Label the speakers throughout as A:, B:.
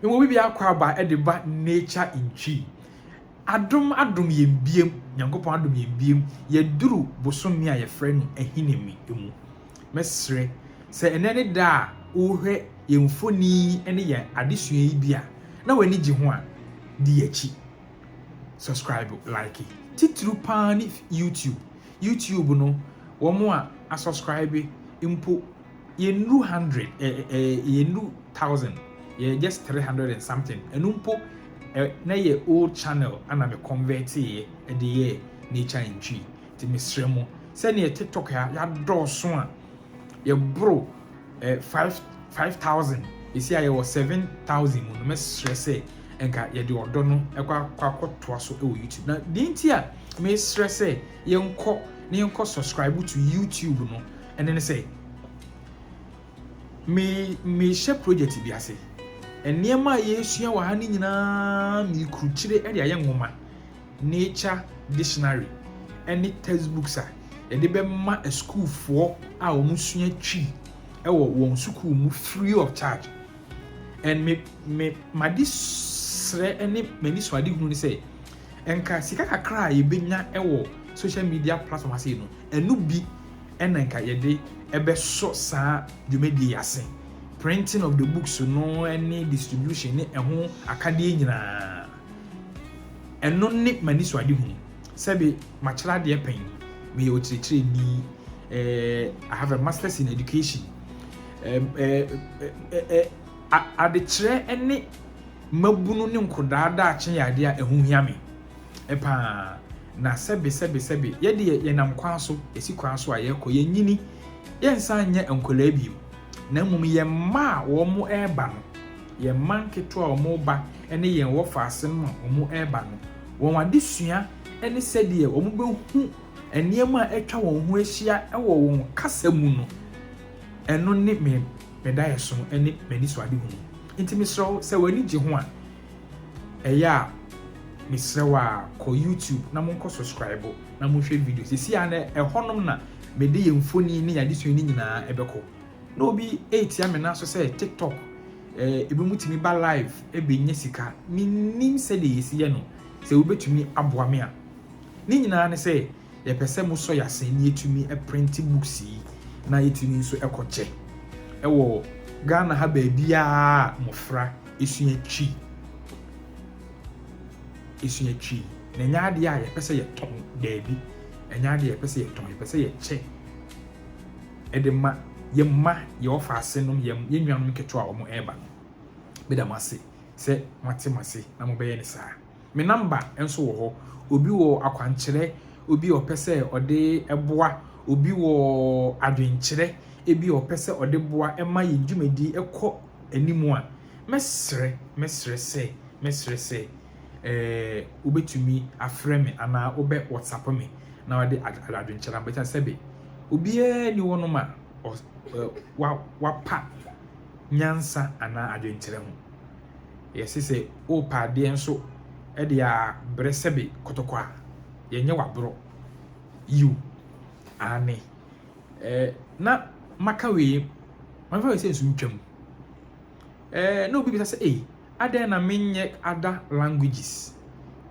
A: Ewɔ bi bia akɔ aba ɛde ba nature ntwi. Adom adom yɛn biem, Nyankopɔn adom yɛn biem, yɛduru bosome a yɛfrɛ no Ahinime mu. Mɛsrɛ sɛ ɛnɛ ne da a worehwɛ yɛn mfoni ne yɛn adesua yi bi a na w'ani gye ho a, di akyi. Subscribe, like. Titiriw paa ne YouTube. YouTube no, wɔn a asubscribe mpo Yɛnnuru hundred, yɛnnuru thousand, yɛyɛ just three hundred and something, ɛno mpo na ɛyɛ old channel na me converteeɛ de yɛɛ nature and tree. Nti mesrɛ mo, sɛdeɛ tiktok ha yɛadɔɔso a yɛboro five five thousand, ɛsi a yɛwɔ seven thousand mu no, mɛsrɛ sɛ nka yɛde ɔdɔ no ɛkɔ akɔtoa so wɔ YouTube. Na deɛ nti a mesrɛ sɛ yɛnkɔ na yɛnkɔ subscribe to YouTube no, Ɛno ne sɛ, me mehyɛ project bi ase. Nneɛma a yɛresua wɔ ha no nyinaa mekrukyire de ayɛ nwoma, nature dictionary ne textbooks a yɛde bɛma asukuufoɔ a wɔsua Twi wɔ wɔn sukuu mu free of charge. And me me made srɛ ne m'ani so ade hunu ne sɛ nka sika kakra a yɛbɛnya wɔ social media platform ase no ɛno bi na nka yɛde bɛsɔ saa dwumadie yi ase, printing of the books no ne distribution ne ɛho akadeɛ nyinaa. Ɛno ne m'anisoadehunu. Sɛbe makyerɛ adeɛ pɛn, meyɛ ɔkyerɛkyerɛni, eh, I have a masters in education. Eh, eh, eh, eh, a- adekyerɛ ne mmabunu ne nkɔdaa daakye yɛ adeɛ a ɛho hia me. paa, na sɛbe, sɛbe, sɛbe, yɛ deɛ yɛnam kwan so, yɛsi kwan so a yɛkɔ, yɛnyini, yɛnsan nyɛ nkwadaa bio, na mmom yɛn mma a wɔreba no, yɛn mma nketewa a wɔreba ne yɛn wɔ faase no a wɔreba no, wɔn adesua ne sɛdeɛ wɔbɛhu nneɛma a atwa wɔn ho ahyia wɔ wɔn kasa mu no, ɛno ne me daeɛso ne m'anisoadehunu. Enti mesrɛ wo, sɛ w'ani gye ho a, Ɛyɛ a mesrɛ wo a kɔ YouTube na monkɔ subscribe na monhwɛ video. Sisi a na ɛhɔnom na mede yɛn mfoni ne yɛn adesua no nyinaa ɛbɛkɔ. Na obi ɛretia me nan so sɛ TikTok ebi mu tumi ba live ɛbɛnya sika. Mennim sɛdeɛ yɛsi yɛ no. Sɛ wobɛtumi aboa me a. Ne nyinaa ne sɛ. Yɛpɛ sɛ mo sɔ yɛn sɛ yɛtumi prente books yi na yɛtumi nso kɔ kyɛ wɔ Ghana ha baabiara a mmɔfra sua Twi sua Twi. Na ɛnyɛ adeɛ a yɛpɛ sɛ yɛtɔn daabi, ɛnyɛ adeɛ a yɛpɛ sɛ yɛtɔn, yɛpɛ sɛ yɛkyɛ ɛde ma yɛn mma, yɛn ɔfaase nom, yɛn yɛn nuanom ketewa a wɔn ɛreba no. Meda mo ase sɛ moate mo ase na mobɛyɛ ne saa. Me number nso wɔ hɔ. Obi wɔ akwankyerɛ obi a ɔpɛ sɛ ɔde boa, obi wɔ adwenkyerɛ ebi a ɔpɛ sɛ ɔde boa ma yɛn dwumadi kɔ anim a, mɛsrɛ, mɛsrɛ sɛ, mɛsrɛ sɛ eh, wobɛtumi afrɛ me anaa wobɛ WhatsApp me na wode adwenkyerɛ ama. Ɛsiane sɛbe, obiara nni hɔnom a ɔs eh, wa, wapa nyansa anaa adwenkyerɛ ho. Yɛ se sɛ oopɛ adeɛ nso de a brɛ sɛbe kɔtɔkɔ a, yɛ nyɛ w'aborɔ. Yiw, aane. Eh, na maka wei, memfa wei sɛ nsu ntwam. Eh, na obi bisa sɛ, ei, adɛn na menyɛ ada languages?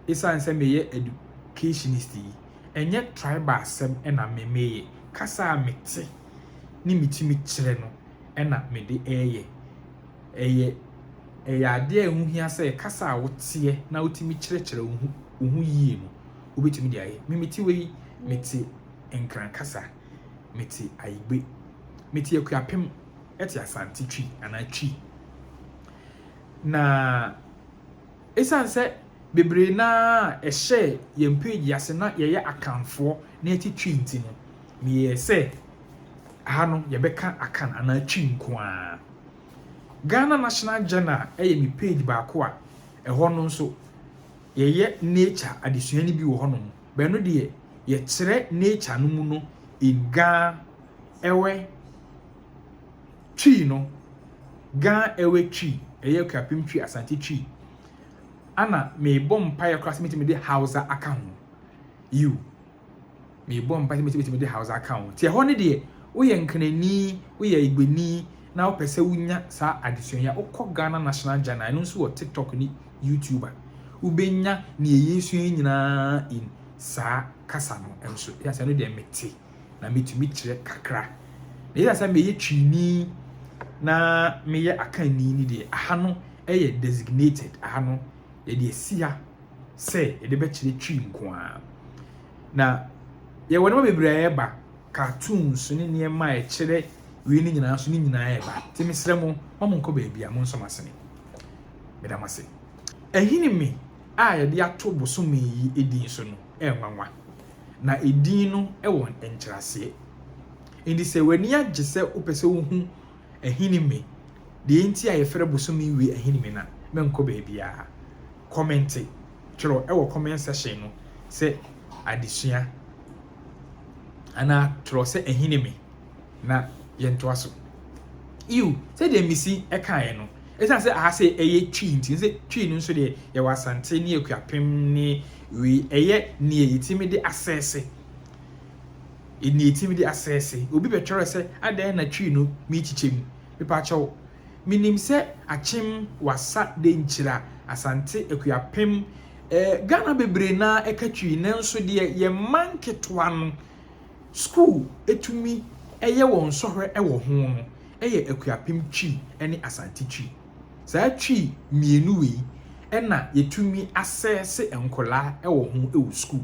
A: Esiane sɛ meyɛ educationist yi, ɛnyɛ tribal asɛm na me meyɛ. Kasa a mete ne metumi kyerɛ no na mede reyɛ. Ɛyɛ ɛyɛ adeɛ a ɛho hia sɛ kasa a woteɛ na wotumi kyerɛkyerɛ wo ho wo ho yie no, wobɛtumi de ayɛ. Me mete wei, mete Nkran kasa, mete Ayigbe, mete Akuapem, ɛte Asante Twi anaa Twi. Na ɛsiane sɛ bebree no ara a ɛhyɛɛ yɛn page yi ase na yɛyɛ Akanfoɔ na yɛte Twi nti no, meyɛɛ sɛ ha no yɛbɛka Akan anaa Twi nko ara. Ghana National Journal yɛ me page baako a ɛhɔ no nso yɛyɛ nature adesua no bi wɔ hɔnom. Bɛno deɛ yɛkyerɛ nature no mu no in Ga ɛwɛ Twi no, Ga ɛwɛ Twi, ɛyɛ Akuapem Twi, Asante Twi. Ana mebɔ mpaeɛ koraa sɛ mɛtumi de Hausa aka ho. You. Merebɔ mpae sɛ mesi betumi de Hausa aka ho. Tiɛ hɔ no deɛ, woyɛ Nkranni, woyɛ Igbeni na wopɛ sɛ wunya saa adesua yi a, wokɔ Ghana National Journal, ɛno nso wɔ TikTok ne YouTube a, wubenya nea yɛresua yi nyinaa in saa kasa no nso. Esiane sɛ ɛno deɛ mete na metumi kyerɛ kakra, na esiane sɛ meyɛ Twini na meyɛ Akanni no deɛ, aha no yɛ designated, aha no yɛde asi ha. sɛ yɛde bɛkyerɛ Twi nko ara. Na yɛwɔ nneɛma bebree a ɛreba, cartoons ne nneɛma a ɛkyerɛ wei no nyinaa so ne nyinaa ɛreba. Nti mesrɛ mo, ma mo nkɔ baabi a mo nsɔ mo asene. Meda mo ase. Ɛhene me a yɛde ato bosome yi edin so no ɛnwanwa. Na edin no ɛwɔ nkyerɛaseɛ. Nti sɛ w'ani agye sɛ wopɛ sɛ wohu Ahinime, Deɛ nti a yɛfrɛ bosome wei Ahinime na menkɔ baabiara. Kɔmente, twerɛ wɔ comment section no sɛ adesua anaa twerɛ sɛ Ahinime na yɛntoa so. Yiw, sɛdeɛ Misi kaeɛ no, ɛsiane sɛ aha sɛ ɛyɛ Twi nti, sɛ Twi no nso deɛ yɛwɔ Asante ne Akuapem ne wei, ɛyɛ neɛ yɛtumi de asɛse. Eni etim de asɛse obi bɛtwɛrɛ sɛ adɛn na Twi no meekyikyɛ mu? Mepakyɛw, menim sɛ Akyem, Wassa, Denkyira, Asante, Akuapem, eh, Ghana bebree no ara ka Twi nanso deɛ yɛn mma nketewa no sukuu tumi yɛ wɔn sɔhwɛ wɔ ho no yɛ Akuapem Twi ne Asante Twi. Saa Twi mmienu wei na yɛtumi asɛse nkwadaa wɔ ho wɔ sukuu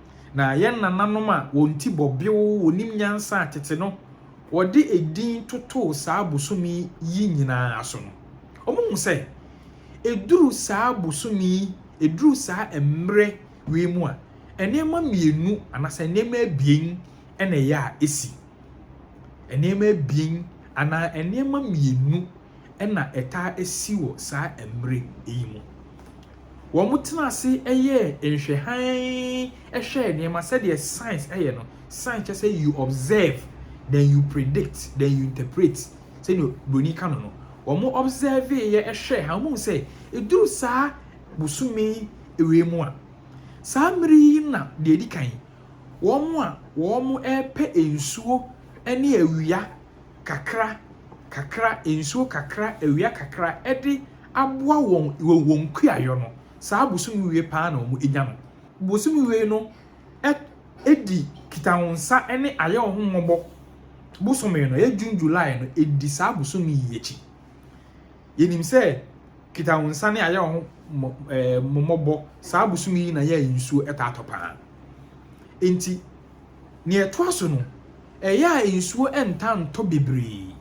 A: Na yɛn nananom a wɔn ti bɔ bew, wɔnim nyansa a tete no wɔde edin totoo saa bosome yi nyinaa so no, wɔhu sɛ ɛduru saa bosome yi, ɛduru saa mmerɛ wei mu a, nneɛma mmienu anaasɛ nneɛma abien na ɛyɛ a ɛsi. Nneɛma abien anaa nneɛma mmienu na ɛtaa si wɔ saa mmere yi mu. Wɔtenaa ase yɛɛ nhwɛ hann hwɛɛ nneɛma sɛdeɛ science yɛ no, science kyerɛ sɛ you observe then you predict then you interpret sɛdeɛ buroni ka no no, wɔn observeeɛ hwɛɛ hann, wɔhuu sɛ ɛduru saa bosome wei mu a, saa mmere yi na deɛ ɛdi kan wɔn a wɔrepɛ nsuo ne awia kakra kakra, nsuo kakra, awia kakra de aboa wɔn wɔ wɔn kuayɔ no, saa bosome wie paa na wɔn nya no. Bosome wie no ɛdi kitahonsa ne ayɛ wo ho mmɔbɔ bosome no, ɛyɛ June July no, ɛdi saa bosome yi akyi. Yɛnim sɛ kitahonsa ne ayɛ wo ho mmɔbɔ saa bosome yi na yɛ nsuo ɛtaa tɔ paa. Enti Nea ɛtoa so no, ɛyɛ a nsuo ntaa ntɔ bebree,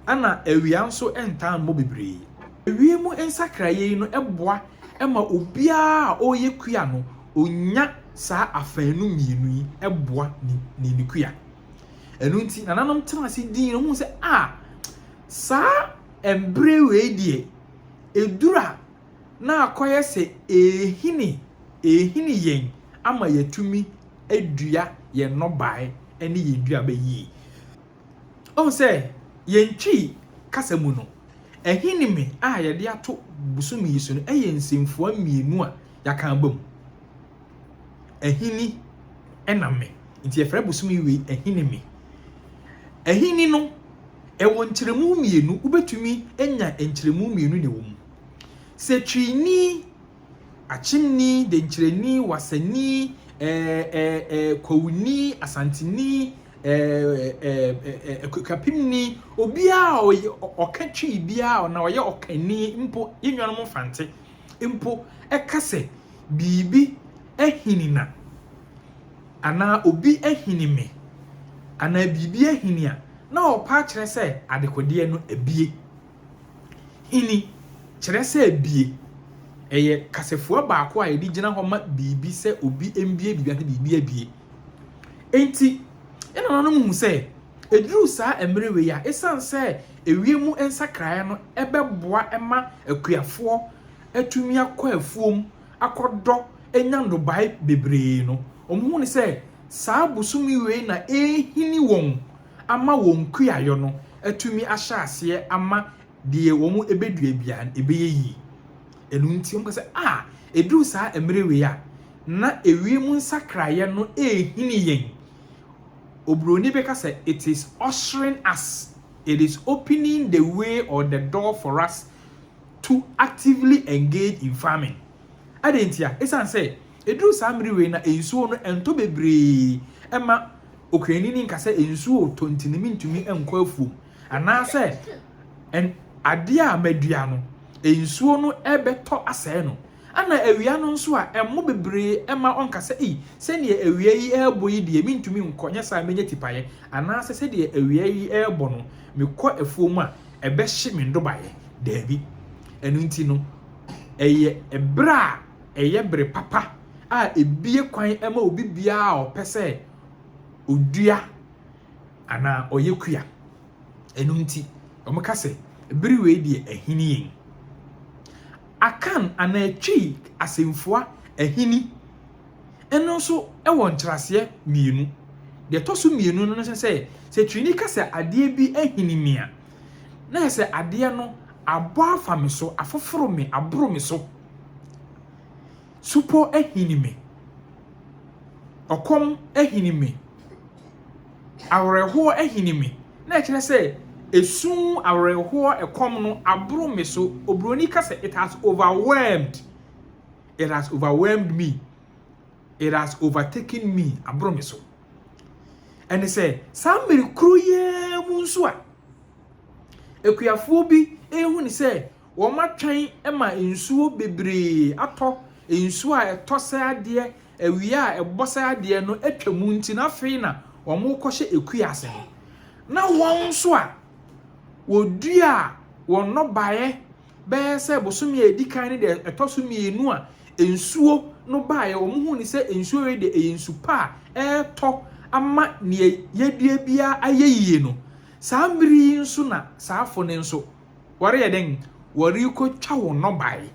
A: ɛnna awia nso ntaa mmɔ bebree. Ewiem nsakraeɛ yi no boa ma obiara a ɔreyɛ kua no, ɔnya saa afanu mmienu yi boa ne ne ne kua. Ɛno nti, nananom tena ase dii no, wɔhuu sɛ, a saa mberɛ wei deɛ, ɛduru a na akɔyɛ sɛ ɛrehini ɛrehini yɛn ama yɛatumi adua yɛn nnɔbaeɛ ne yɛn nnuaba yie. Ɔhu sɛ yɛn Twi kasa mu no, ahinime a yɛde ato bosom yi so no yɛ nsɛmfua mmienu a yɛaka abam. Ahini ɛna me. Nti yɛfrɛ bosom yi wei ahinime. Ahini no, ɛwɔ nkyerɛmu mmienu. Wobɛtumi anya nkyerɛmu mmienu na ɛwɔ mu. Sɛtwini, Akyemni, Denkyerɛni, Wasani, ɛɛ ɛɛ ɛɛ Kwawuni, Asanteni, ɛɛ ɛɛ ɛɛ Akuapemni, obiara a ɔyɛ ɔka twi biara na ɔyɛ ɔkani mpo, yɛn nuanom Mfante mpo ɛka sɛ biribi ahini na anaa obi ahini me anaa biribi ahini a, na ɔpa akyerɛ sɛ adekodeɛ no abue. Hini, kyerɛ sɛ bie, yɛ kasafua baako a yɛde gyina hɔ ma biribi sɛ obi mbue biribi anaasɛ biribi abue. Enti, yɛn nananom hu sɛ ɛduru saa mmerɛ wei a, ɛsiane sɛ ewiem nsakraeɛ no bɛboa ma akuafoɔ atumi akɔ afuom akɔdɔ anya nnɔbaeɛ bebree no, wɔhu no sɛ saa bosome wei na ɛrehini wɔn ama wɔn kuayɔ no atumi ahyɛ aseɛ ama deɛ wɔbɛdua biara no ɛbɛyɛ yie. Ɛno nti wɔka sɛ, a, ɛduru saa mmerɛ wei a, na ewiem nsakraeɛ no rehini yɛn. Oburoni bɛka sɛ, It is ushering us, it is opening the way or the door for us to actively engage in farming. Adɛn ntia? Ɛsiane sɛ. Ɛduru saa mmere wei na nsuo no ɛntɔ bebree ɛma Okraini no nka sɛ nsuo retɔ nti no mentumi nkɔ afuom anaasɛ ɛn adeɛ a madua no nsuo no ɛbɛtɔ asɛe no. Ɛna awia no nso a ɛmmɔ bebree ɛma ɔnka sɛ ei sɛdeɛ awia yi ɛrebɔ yi deɛ mentumi nkɔ nyɛ saa a mɛnya tipaeɛ anaasɛ sɛdeɛ awia yi ɛrebɔ no mekɔ afuom a ɛbɛhye me nnobaeɛ. Daabi. Ɛno nti no ɛyɛ ɛberɛ a. ɛyɛ bere papa a ebue kwan ma obi biara a ɔpɛ sɛ odua anaa ɔyɛ kua. Ɛno nti, wɔka sɛ bere wei deɛ ahini yɛn. Akan anaa Twi asɛmfua ahini no nso wɔ nkyerɛaseɛ mmienu. Deɛ ɛtɔ so mmienu no ne sɛ, sɛ Twini ka sɛ adeɛ bi ahini me a, na kyerɛ sɛ adeɛ no abɔ afa me so, afoforo me, aboro me so. Supɔ ahini me. Ɔkɔm ahini me. Awerɛhoɔ ahini me. Na ɛkyerɛ sɛ ɛsu, awerɛhoɔ, ɛkɔm no aboro me so. Oburoni ka sɛ it has overwhelmed. It has overwhelmed me. It has overtaken me. Aboro me so. Ɛne sɛ saa mmere koro yi mu nso a akuafoɔ bi ɛhu ne sɛ Wɔatwɛn ma nsuo bebree atɔ, nsuo a ɛtɔ sɛ adeɛ, awia a ɛbɔ sɛ adeɛ no atwa mu nti no afei na wɔrekɔhyɛ ɛkuo ase no. Na wɔn nso a wɔdua wɔn nnɔbaeɛ bɛyɛ sɛ bosome a ɛdi kan no deɛ ɛtɔ so mmienu a nsuo no baeɛ wɔn hu ne sɛ nsuo wei deɛ ɛyɛ nsu pa a ɛretɔ ama neɛ yɛdua biara ayɛ yie no. Saa mmere yi nso na saa afo no nso. wɔreyɛ dɛn? Wɔrekɔtwa wɔn nnɔbae,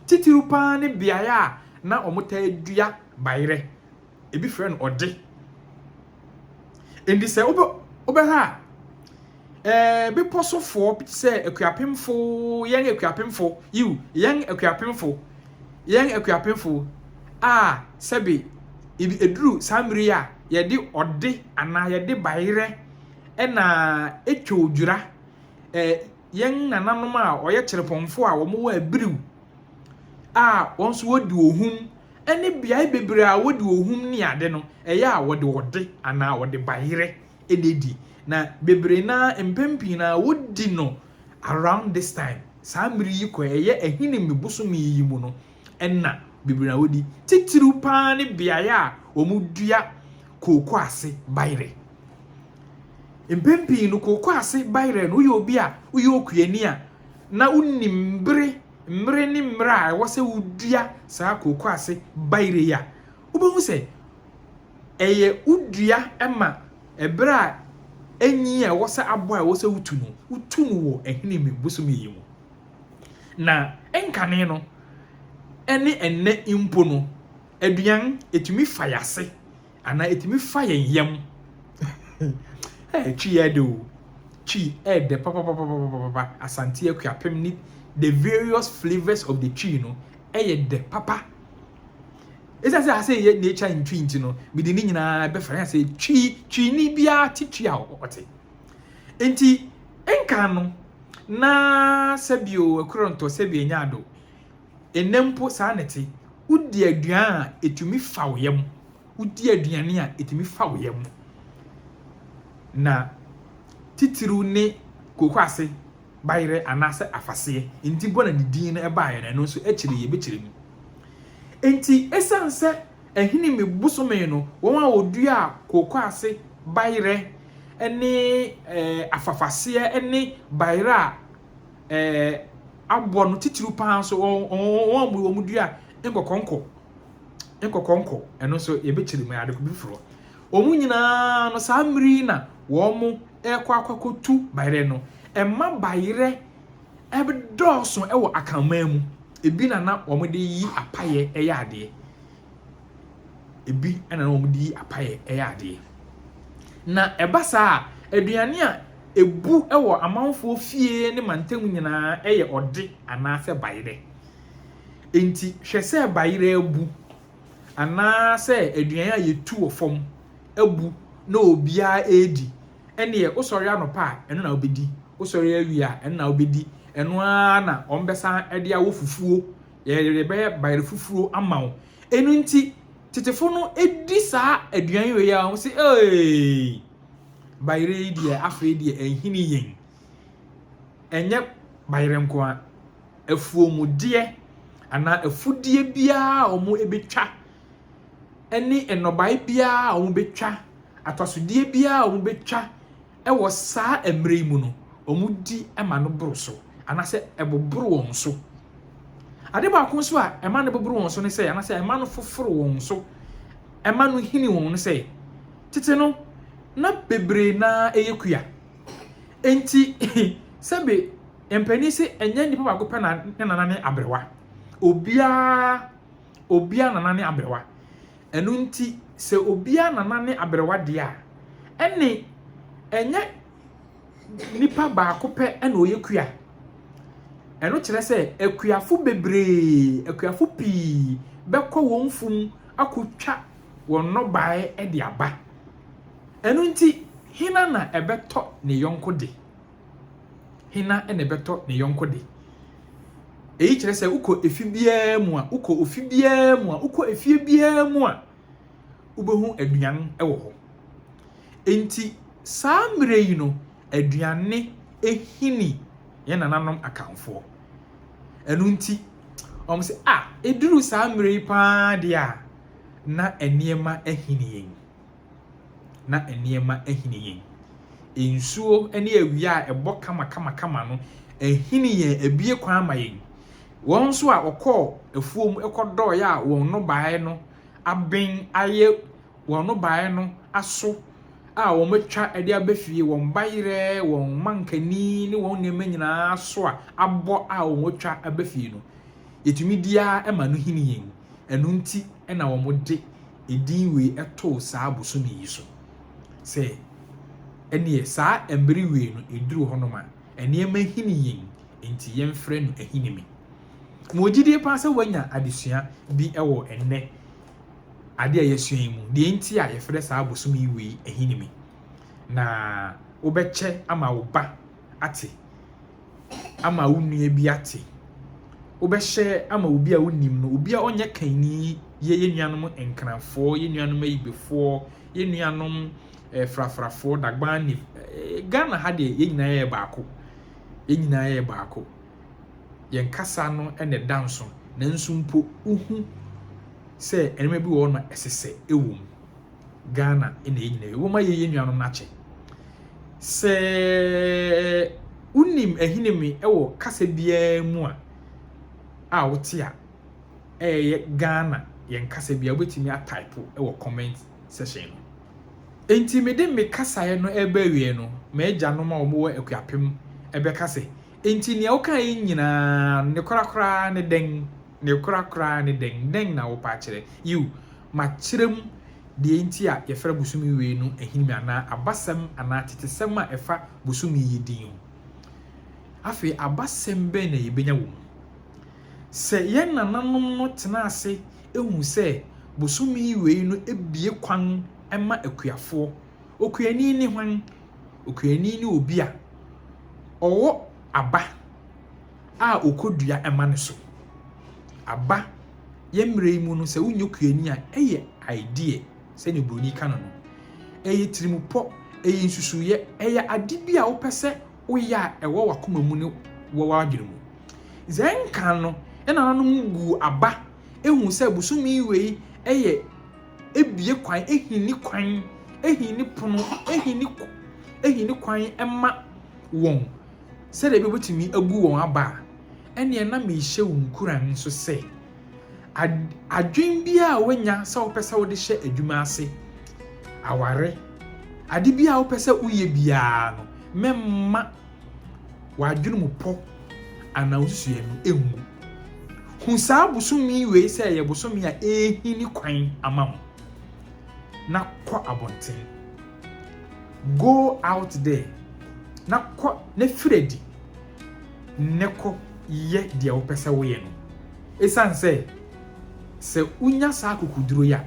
A: titiriw pa ara ne beaeɛ a na wɔtaa dua bayerɛ, ebi frɛ no ɔde. Enti sɛ wobɛ wobɛhwɛ a, ɛɛ bepɔ sofoɔ bi te sɛ akuapemfo, yɛn akuapemfo, yiw, yɛn akuapemfo, yɛn akuapemfo a sɛbe ebi eduru saa mmere yi a yɛde ɔde anaa yɛde bayerɛ ɛna etwa odwira eh, yɛn nananom a wɔyɛ kyerɛpɔnfo a wɔwɔ abiriw a wɔn nso wɔdi ohum ne beae bebree a wɔdi ohum ne ade no, ɛyɛ a wɔde ɔde anaa wɔde bayerɛ na edi. Na bebree na mpɛn pii na wɔdi no around this time, saa mmere yi kɔ ɛyɛ Ahinime bosome yi mu no. nna bebree na wodi, titiriw paa ne beae a wɔdua kooko ase bayerɛ. Mpɛn pii no, kooko ase bayerɛ no, woyɛ obi a woyɛ okuani a na wonim bere, mmere ne mmerɛ a ɛwɔ sɛ wodua saa kooko ase bayerɛ yi a, wobɛhu sɛ ɛyɛ wodua ma ɛberɛ a enyin a ɛwɔ sɛ aboa a ɛwɔ sɛ wotu no, wotu no wɔ Ahinime bosome yi mu. Na nkane no ne ɛnnɛ mpo no, aduan, ɛtumi fa yɛn ase anaa ɛtumi fa yɛn yam. Twi yɛ de o, twi yɛ de papapapapapa, Asante Akuapem ne the various flavours of the twi no yɛ de papa. Ɛsiane sɛ asɛ yɛ nature ntwi nti no, mede ne nyinaa bɛfa yɛn sɛ twi, twi ni biara te twi a ɔte. Enti nkan no, na sɛbio ɛkorontɔ, sɛbio ɛnyɛ ado. Ɛnnɛ mpo saa na ɛte. Wodi aduan a, ɛtumi fa wo yam. Wodi aduane a, ɛtumi fa wo yam. Na titiriw ne kokoase bayerɛ anaasɛ afaseɛ. Enti bɔ na ne din no baeɛ no, ɛno nso akyire yi yɛbɛkyerɛ mu. Enti ɛsiane sɛ Ahinime bosome no, wɔn a wɔdua kooko ase bayerɛ ne afafaseɛ ne bayerɛ a abɔ no titiriw pa ara nso, wɔn a wɔdua nkɔkɔnkɔ, nkɔkɔnkɔ, ɛno nso yɛbɛkyerɛ mu, ɛyɛ ade foforɔ. Wɔn nyinaa no, saa mmere yi na wɔrekɔ akɔtu bayerɛ no. Ɛmma bayerɛ dɔɔso wɔ Akanman mu. Ebi na na wɔde yi apaeɛ yɛ adeɛ. Ebi na na wɔde yi apaeɛ yɛ adeɛ. Na ɛba saa a, aduane a ɛbu wɔ amanfoɔ fie ne mantam nyinaa yɛ ɔde anaasɛ bayerɛ. Enti hwɛ sɛ bayerɛ abu anaasɛ aduane a yɛtu wɔ fam abu na obiara redi. Ɛnneɛ wosɔre anɔpa a, ɛno na wobɛdi, wosɔre awia a, ɛno na wobɛdi, ɛno ara na wɔbɛsan de awɔ fufuo, yɛde bɛyɛ bayerɛ fufuo ama wo. Ɛno nti, tetefo no di saa aduan wei a, wɔn se, ee, bayerɛ yi deɛ afei deɛ ɛnhini yɛn. Ɛnyɛ bayerɛ nko a, afuomudeɛ anaa afudeɛ biara a wɔbɛtwa ne nnɔbae biara a wɔbɛtwa, atɔsodeɛ biara a wɔbɛtwa wɔ saa mmerɛ yi mu no, wɔdi ma no boro so, anaasɛ ɛboboro wɔn so. Ade baako nso a ɛma no boboro wɔn so ne sɛ, anaasɛ ɛma no foforo wɔn so, ɛma no hini wɔn no sɛ, tete no, na bebree no ara yɛ kua. Enti, sɛbe mpanin se ɛnyɛ nnipa baako pɛ na ne nana ne aberewa. Obiara obiara nana ne aberewa. Ɛno nti sɛ obiara nana ne aberewa deɛ a, ɛnne ɛnyɛ nipa baako pɛ na ɔyɛ kua. Ɛno kyerɛ sɛ akuafo bebree, akuafo pii bɛkɔ wɔn fum akɔtwa wɔn nnɔbaeɛ de aba. Ɛno nti, hena na ɛbɛtɔ ne yɔnko de? Hena na ɛbɛtɔ ne yɔnko de? Eyi kyerɛ sɛ wokɔ efi biara mu a, wokɔ ofi biara mu a, wokɔ efie biara mu a, wobɛhu aduan wɔ hɔ. Enti saa mmerɛ yi no, aduane hini yɛn nananom akanfoɔ. Ɛno nti, wɔn sɛ, a, ɛduru saa mmerɛ yi paa deɛ a, na nneɛma ahini yɛn. na nneɛma ahini yɛn. Nsuo ne awia a ɛbɔ kamakamakama no ahini yɛn, abue kwan ama yɛn. Wɔn nso a wɔkɔɔ afuom kɔdɔɔeɛ a wɔn nnɔbaeɛ no aben ayɛ, wɔn nnɔbaeɛ no aso a wɔatwa de aba fie, wɔn bayerɛ, wɔn mankani ne wɔn nneɛma nyinaa so a abɔ a wɔatwa aba fie no, yɛtumi di ara ma no hini yɛn. Ɛno nti na wɔde edin wei too saa bosome yi so sɛ, Ɛnneɛ saa mmere wei no ɛduru hɔnom a, nneɛma hini yɛn nti yɛmfrɛ no Ahinime. Mewɔ gyidie paa sɛ woanya adesua bi wɔ ɛnnɛ adeɛ a yɛasua yi mu, deɛ nti a yɛfrɛ saa bosome yi wei Ahinime, na wobɛkyɛ ama wo ba ate ama wo nua bi ate. Wobɛhyɛ ama obi a wonim no, obi a ɔnyɛ kanni yɛ yɛn nuanom Nkranfoɔ, yɛn nuanom Ayibefoɔ, yɛn nuanom eh, Frafrafoɔ, Dagbani. Eh, Ghana ha deɛ yɛn nyinaa yɛ baako. Yɛn nyinaa yɛ baako. Yɛn kasa no na ɛda nso. Nanso mpo wohu sɛ nneɛma bi wɔ hɔ no ɛsesɛ ɛwɔ mu. Ghana na yɛn nyinaa yɛ. Momma yɛnyɛ nuanom no akyɛ. Sɛ wonim Ahinime wɔ kasa biara mu a a wote a, ɛyɛ Ghana yɛn kasa bi a wobɛtumi ataipo wɔ comment section no. Enti mede me kasaeɛ no ɛreba awieɛ no, m'agyanom a wɔwɔ Akuapem ɛbɛka sɛ Enti nea wokae yi nyinaa ne korakora ara ne dɛn? Ne korakora ara ne dɛn? Dɛn na wopɛ akyerɛ? Yiw, makyerɛ mu deɛ enti a yɛfrɛ bosome wei no Ahinime anaa abasɛm anaa tetesɛm a ɛfa bosome yi din ho. Afei abasɛm bɛn na yebenya wɔ mu? Sɛ yɛn nananom no tenaa ase hui sɛ bosome wei no bue kwan ma akuafoɔ, Okuani ne hwan? Okuani ne obi a ɔwɔ aba a ɔkɔdua ma no so. Aba, yɛn mmerɛ yi mu no sɛ wonyɛ okuani a ɛyɛ idea sɛdeɛ oburoni ka no no. Ɛyɛ tirimupɔ, ɛyɛ nsusuiɛ, ɛyɛ ade bi a wopɛ sɛ woyɛ a ɛwɔ w'akoma mu ne wɔ w'adwene mu. Dza nkan no, yɛn nananom guu aba hu sɛ bosome wei yɛ bue kwan, hinni kwan, hinni pono, hinni kwan, hinni kwan ma wɔn sɛdeɛ ɛbɛyɛ wobɛtumi abu wɔn aba a, ɛnneɛ na merehyɛ wo nkuran nso sɛ, ad, adwene biara a woanya sɛ wopɛ sɛ wode hyɛ adwuma ase, aware, ade biara a wopɛ sɛ woyɛ biara no, mɛmma w'adwene mu pɔ anaa wo nsusuiɛ no ngu. Hu saa bosome wei sɛ ɛyɛ bosome a ɛrehini kwan ama wo, na kɔ abɔnten. Go out there na kɔ na firi adi ne kɔ yɛ deɛ wopɛ sɛ woyɛ no. Ɛsiane sɛ sɛ wonya saa akokoduro yi a,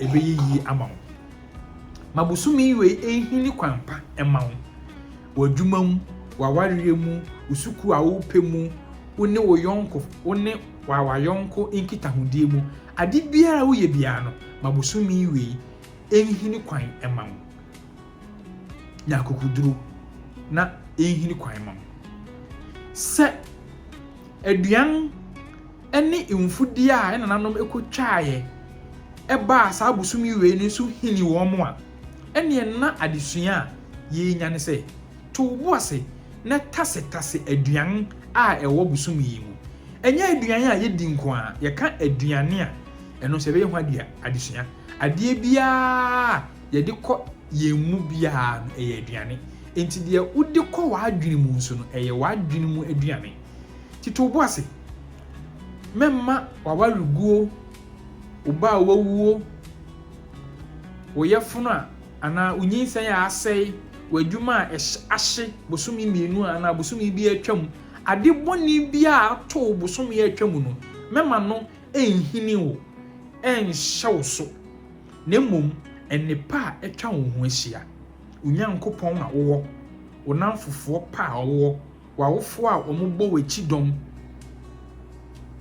A: ɛbɛyɛ yie ama wo. Ma bosome wei nhini kwan pa mma wo, w'adwuma mu, w'awareɛ mu, wo sukuu a worepɛ mu, wo ne wo yɔnko, wo ne w'awayɔnko nkitahodie mu. Ade biara a woyɛ biara no, ma bosome wei nhini kwan mma wo. Nya akokoduro na ɛnhini kwan mma wo. Sɛ aduan ne mfudeɛ a yɛn nananom kɔtwaeɛ baa saa bosome wei no so hini wɔn a, ɛnneɛ na adesua a yɛrenya ne sɛ, to wo bo ase na tasetase aduan a ɛwɔ bosome yi mu. Ɛnyɛ aduan a yɛdi nko ara, yɛka aduane a, ɛno nso ɛbɛyɛ ho adesua. Adeɛ biara a yɛde kɔ yɛn mu biara no, ɛyɛ aduane. Enti deɛ wode kɔ w'adwene mu nso no, ɛyɛ w'adwene mu aduane. Tete wo bo ase. Mɛmma w'awareguo, wo ba a wawuo, wo yafunu a anaa wo nyinsɛn a asɛe, w'adwuma a ahye bosome mmienu a anaa bosome bi a atwam, ade bɔne biara a ato wo bosome a atwam no, mɛma no nhini wo, ɛnhyɛ wo so, na mmom nnepa a atwa wo ho ahyia, wo Nyankopɔn a wowɔ, wo nnamfofoɔ pa a wowɔ, w'awofo a wɔbɔ wo kyidɔm,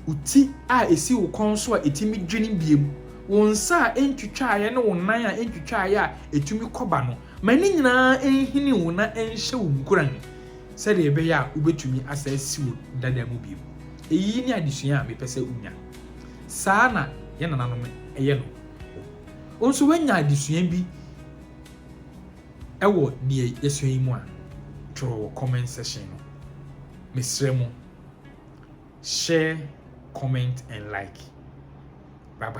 A: wo ti a esi wo kɔn so a etumi dwine biem, wo nsa a entwitwaaeɛ ne wo nan a entwitwaaeɛ a etumi kɔ ba no, ma ne nyinaa nhini wo na ɛnhyɛ wo nkuran sɛdeɛ ɛbɛyɛ a wobɛtumi asan asi wo dada mu bio. Eyi ne adesua a mepɛ sɛ wonya. Saa na yɛn nananom yɛ no. Wo nso woanya adesua bi. Ɛwɔ deɛ yɛsua yi mu a, twerɛ wɔ comment section no. Mesrɛ mo, share, comment and like. Bye bye.